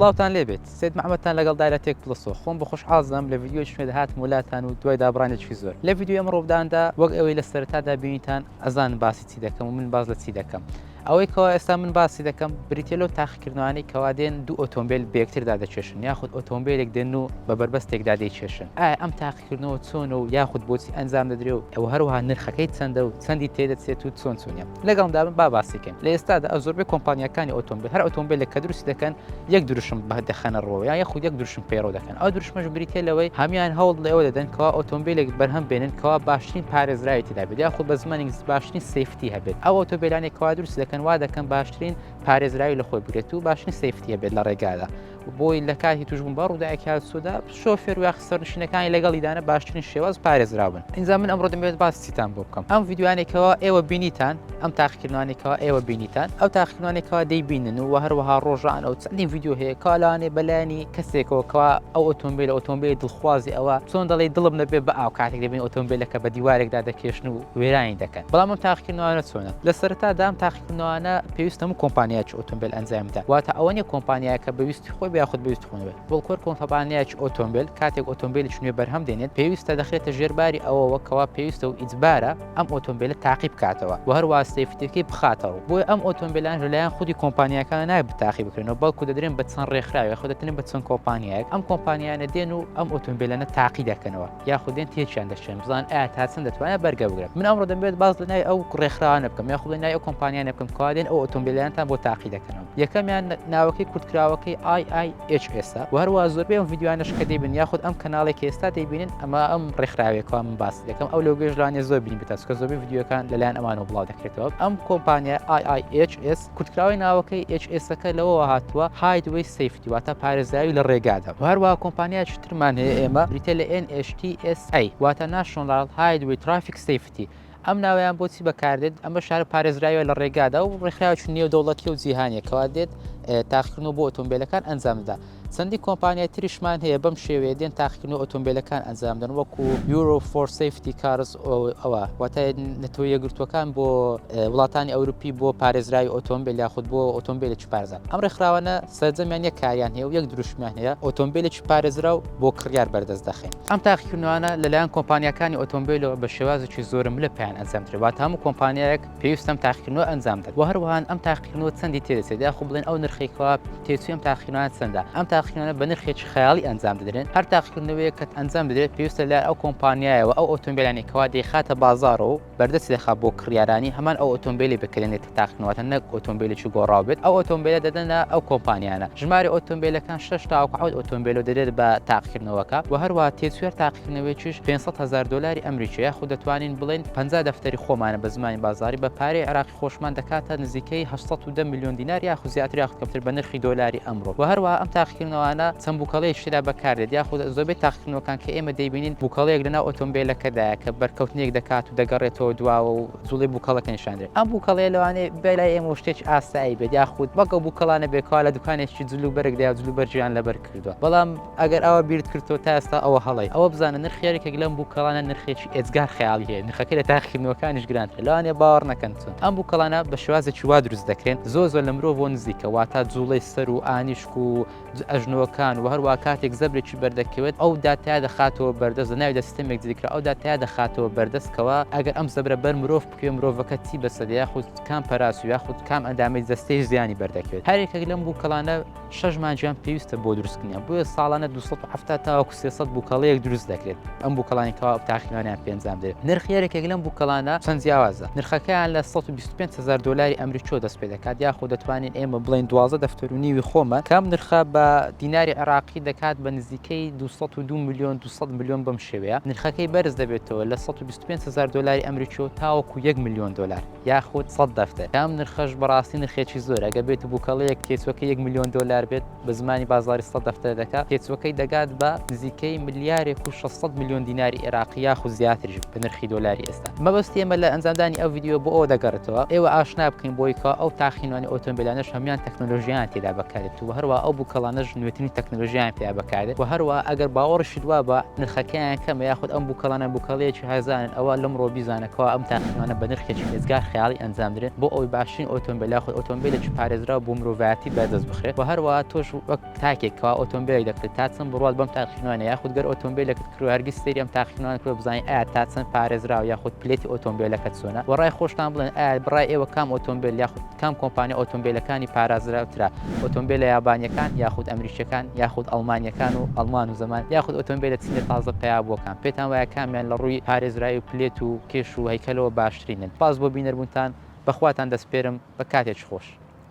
سڵاوتان لێ بێت سید محمدتان لەگەڵ دایلە تێک پڵسۆ خۆم بە خۆش حازدام لە ڤیددیۆی شوێ دەهاتم ولاتان و دوای دابڕانێکی زۆر لە ڤیددیۆ ئەم ڕۆبداندا وەک ئەوەی لە سەرتادا بینیتان ئەزان باسی چی دەکەم و من باز لە چی دەکەم ئەوەی کەوا ئێستا من باسی دەکەم بریتە لەو تاقیکردنوانەی کەوا دێن دوو ئۆتۆمبیل بێکتردا دەکێشن یاخود ئۆتۆمبیلێک دێن و بە بەربەستێکدا دەیکێشن ئایا ئەم تاقی کردنەوە چۆنە و یاخود بۆچی ئەنجام دەدرێ و ئەوە هەروەها نرخەکەی چەندە و چەندی تێدەچێت و چۆن چۆنە لەگەڵمدا بن با باسیکەن لە ئێستادا ئە زۆربەی کۆمپانیاکانی ئۆتۆمبیل هەر ئۆتۆمبیلێک کە دروستی دەکەن یەک دروشم بە دەخەنە ڕۆ یا یەخود یەک دروشم پەیڕۆ دەکەن ئەو دروشمەش بریتە لەوەی هەمان هەوڵ لەوە دەدەن کەوا ئۆتۆمبیلێک بەرهەم بێنن کەوا باشترین پارێزراوی تێدا بێت یاخود بە زمانی باشترین سیفتی هەبێت ئەو ئۆتۆبیلانێک کوا دروست دەکەن وا دەکەن باشترین پارێزراوی لە خۆی بگرێت و باشترین سیفتیە بێت لە ڕێگادا بۆی لە کاتی توشبوون بە ڕووداەکی هاوسودا شۆفێر و یاخسەرنشینەکانی لەگەڵیدانە باشترین شێواز پارێزراون ئینجا من ئەمڕۆ دەمێت باسیتان بۆ بکەم ئەم یددیوانێکەوە ئێوە بینیتان ئەم تاقیکردوانێکەوە ئێوە بینیتان ئەو تاقیکردوانێکەوە دەیبینن و هەروەها ڕۆژان ئەو چەندی یددیو هەیە کالاانێ بەلایانی کەسێکەوەکەوە ئەو ئۆتۆمبیل ئۆتۆمبیل دڵخوازی ئەوە چۆن دەڵی دڵم نەبێ بە ئاو کاتێک دەبین ئۆتۆمبیلەکە بە دیوارێکدا دەکێشن و وێرانی دەکەن بەڵام تاقیکردوانە چۆنە لە سەرتا دام تاقی نوانە پێویست هەموو کۆمپانیایکی ئۆتۆمبیل ئەنجام بدات واتە ئەوە نیە کۆمپانیایەکە بەویستی خۆی یاخود بەویست خۆنەوێت بڵکۆر کۆمپانیایکی ئۆتۆمبیل کاتێک ئۆتۆمبیلی چنوێ بەرهەم دێنێت پێویستە دەخرێتە ژێرباری ئەوەوە کەوا پێویستە و ئیجبارە ئەم ئۆتۆمبیلە تاقی بکاتەوە و هەر واستەی فتێکی بخاتەوە بۆی ئەم ئۆتۆمبیلان لەلایەن خودی کۆمپانیەکان نای بتاقی بکرێنەوە بەڵکو دەدرێن بە چەند ڕێکخراوێ خۆدەتنە بە چەند کۆمپانیایەک ئەم کۆمپانیانە دێن و ئەم ئۆتۆمبیلەنە تاقی دەکەنەوە یاخود دێن تێکیان دەشێن بزان ئایا تا چەند دەتوانێت بەرگە بگرێت من ئەمڕۆ دەمبێت باز لە نای ئەو ڕێکخراوانە بکەم یاخود لە نای ئەو کۆمپانیانە بکەم کوادێن ئەو ئۆتۆمبیلیانتان بۆ تاقی دەکەنەوە یەکەمیان ناوەکەی کورتکراوەکەی IIH ئێستا و هەروە زۆربەی ئەم ڤیددیوانش کە دەیبن یاخود ئەم کەناڵێکی ئێستا دەیبینن ئەمە ئەم ڕێکخراوێکەوە من باس دەکەم ئەو لەو گەشتلانێ زۆر بینی بتاسکە زۆربەی ڤیددیوەکان لەلایەن ئەمانەوە بڵاو دەکرێتەوە ئەم کۆمپانیا IIHS کورتکراوەی ناوەکەی HSA ەکە لەوەوە هاتووە Highway Safety واتە پارێزراوی لە ڕێگادا و هەروە کۆمپانیایکی ترمان هەیە ئێمە بریتە لە NHTSA واتە National Highway Traffic Safety ئەم ناویان بۆچی بەکاردێت ئەمە شارە پارێزراوە لە ڕێگادا و ڕێکخراوی نێودەوڵەتی و جیهانیە کەوا دێت تاقیکردن و بۆ ئۆتۆمبیلەکان ئەنجامدا چەندین کۆمپانیای تریشمان هەیە بەم شێوەیە دێن تاقیکردنەوەی ئۆتۆمبێلەکان ئەنجام دەن وەکو Bureau for Safety Cars ئەوە واتە نەتەوە یەکگرتووەکان بۆ وڵاتانی ئەوروپی بۆ پارێزراوی ئۆتۆمبێل یاخود بۆ ئۆتۆمبێلێکی پارێزراو ئەم ڕێکخراوانە سەرجەمیان یەک کاریان هەیە و یەک دروشمیان هەیە ئۆتۆمبێلێکی پارێزراو بۆ کڕیار بەردەست دەخەین ئەم تاقیکردنەوانە لەلایەن کۆمپانیاکانی ئۆتۆمبێلەوە بە شێوازێکی زۆرەملێ پێیان ئەنجام درێت واتە هەموو کۆمپانیایەک پێویستە ئەم تاقیکردنەوە ئەنجام دەن و هەروەهان ئەم تاقیکردنەوە چەندی تێدەچێت یاخود بڵێن ئەو نرخەی کەوا تێچووی ئەم تاقیکردنەوە چەندە ئەم تاقیکردنەوە بە نرخێکی خەیاڵی ئەنجام دەدرێن هەر تاقیکردنەوەیەک کە ئەنجام بدرێت پێویستە لە ئەو کۆمپانیایەوە ئەو ئۆتۆمبیلانەی کەوا دەیخاتە بازاڕەوە و بەردەست دەخات بۆ کڕیارانی هەمان ئەو ئۆتۆمبیلی بکرێنێت کە تاقیکردنەوەتە نەک ئۆتۆمبیلێکی گۆڕاو بێت ئەو ئۆتۆمبیلە دەدەنە ئەو کۆمپانیانە ژماری ئۆتۆمبیلەکان شەش تاوەکو حەوت ئۆتۆمبیلەوە دەدرێت بە تاقیکردنەوەکە و هەروەها تێچووی هەر تاقیکردنەوەیەکیش پێنج سەد هەزار دۆلاری ئەمریکی یاخود دەتوانین بڵێین پەنجا دەفتەری خۆمانە بە زمانی بازاڕی بە پارەی عێراقی خۆشمان دەکاتە نزیکەی هەشت سەد و دە ملیۆن دینار یاخود زیاتر یاخود کەمتر بە نرخی دۆلاری ئەمڕۆ و هەروەها ئەم تاقیکردنەوانە چەند بووکەڵەیەکی تێدا بەکاردێت یاخود زۆربەی تاقیکردنەوەکان کە ئێمە دەیبینین بووکەڵەیەک لەناو ئۆتۆمبێلەکەدایە کە بەرکەوتنێک دەکات و دەگەڕێتەوە دواوە و جوڵەی بووکەڵەکە نیشاندرێت ئەم بووکەڵەیە لەوانەیە بێ لای ئێمە و شتێکی ئاسایی بێت یاخود وەک ئەو بووکەڵانە بێت کەوا لە دوکانێکی جل و بەرگدایە و جل و بەرگیان لەبەر کردووە بەڵام ئەگەر ئەوە بیرت کردووە تا ئێستا ئەوە هەڵەیە ئەوە بزانە نرخی یەکێک لەم بووکەڵانە نرخێکی ئێجگار خەیاڵی هەیە نرخەکەی لە تاقیکردنەوەکانیش گرانترە لەوانەیە باوەڕ نەکەن چون ئەم بووکەڵانە بە شێوازێکی وا دروست دەکرێن زۆر زۆر لە مرۆڤ بۆ نزیکە واتا جوڵەی سەر و ئانیشک و ئەژنۆکان و هەروە کاتێک زەبرێکی بەردەکەوێت ئەو داتیا دەخاتەوە بەردەست لە ناویدا سیستەمێک دیکرا ئەو داتیا دەخاتەوە بەردەستکەوە ئەگەر ئەم زەبرە بەر مرۆڤ بکوێ مرۆڤەکە چی بەسەدە یاخود کام پەراس و یاخود کام ئەندامی جەستەی زیانی بەردەکەوێت هەرێکێک لەم بووکەڵانە شەش مانگیان پێویستە بۆ دروستکردنیان بۆیە ساڵانە 270 تاوەکو 300 بووکەڵەیەک دروست دەکرێت ئەم بووکەڵانی کەوا تاقیوانیان پێنجام دێت نرخ یارێکێک لەم بووکەڵانە چەند جیاوازە نرخەکەیان لە 125 هزار دلاری ئەمریکۆ دەست پێ دەکات یاخۆ دەتوانین ئێمە بڵێن دوازە دەفتەر و نیوی خۆمە کەم نرخە بە دیناری عێراقی دەکات بە نزیکەی 202 ملیۆن 200 ملیۆن بەم شێوەیە نرخەکەی بەرز دەبێتەوە لە 125 هزار دلاری ئەمریکۆ تاوەکو 1 ملیۆن دلار یاخود سەد دەفتەر کام نرخەش بەڕاستی نرخێکی زۆرە گەر بێت و بووکەڵەیەک تێچوەکە یەک ملیۆن دۆلار بێت بە زمانی بازاری سەد دەفتەر دەکات تێچوەکەی دەگات بە نزیکەی ملیارێک و 600 ملیۆن دیناری عێراقی یاخود زیاتریش بە نرخی دۆلاری ئێستا مەبەستی ئێمە لە ئەنجامدانی ئەو ڤیدیۆ بۆ ئەوە دەگەڕێتەوە ئێوە ئاشنا بکەین بۆی کە ئەو تاقینوانی ئۆتۆمبیلانەش هەمان تەکنۆلۆژیان تێدا بەکارێت و هەروە ئەو بووکەڵانەش نوێترین تەکنۆلۆژیان پێیا بەکارێت و هەروە ئەگەر باوەڕشت وا بە نرخەکەیان کەمە یاخود ئەم بووکەڵانە بووکەڵەیەکی هەزانن ئەوە لەمڕۆ بیزانە کوا ئەم تاقیکانە بە نرخێکی رێزگار خەیاڵی ئەنجام درێن بۆ ئەوەی باشترین ئۆتۆمبێل یاخود ئۆتۆمبێلێکی پارێزراو بۆ مرۆڤایەتی بەردەست بخرێت و هەروەها تۆش وەک تاکێک کەوا ئۆتۆمبێلێک دەکڕیت تا چەند بڕوات بەم تاقیکردنەوانە یاخود گەر ئۆتۆمبێلێکت کڕی و هەرگیز سەیری ئەم تاقیکردنەوانە نەکردووە بزانیت ئایا تا چەند پارێزراوە یاخود پلێتی ئۆتۆمبێلەکەت چۆنە و رای خۆشتان بڵێن ئایا بڕای ئێوە کام ئۆتۆمبێل یاخود کام کۆمپانیا ئۆتۆمبێلەکانی پارازراوترە، ئۆتۆمبێلە یابانیەکان یاخود ئەمریکیەکان یاخود ئەڵمانیەکان و ئەڵمان و زەمان یاخود ئۆتۆمبێلە چینە تازە پەیابووەکان؟ پێتان وایە کامیان لە ڕووی پارێزراوی و پلێت و کێش و هەیکەلەوە باشترینن؟ سپاس بۆ بینەربوونتان، بەخواتان دەسپێرم، بە کاتێکی خۆش.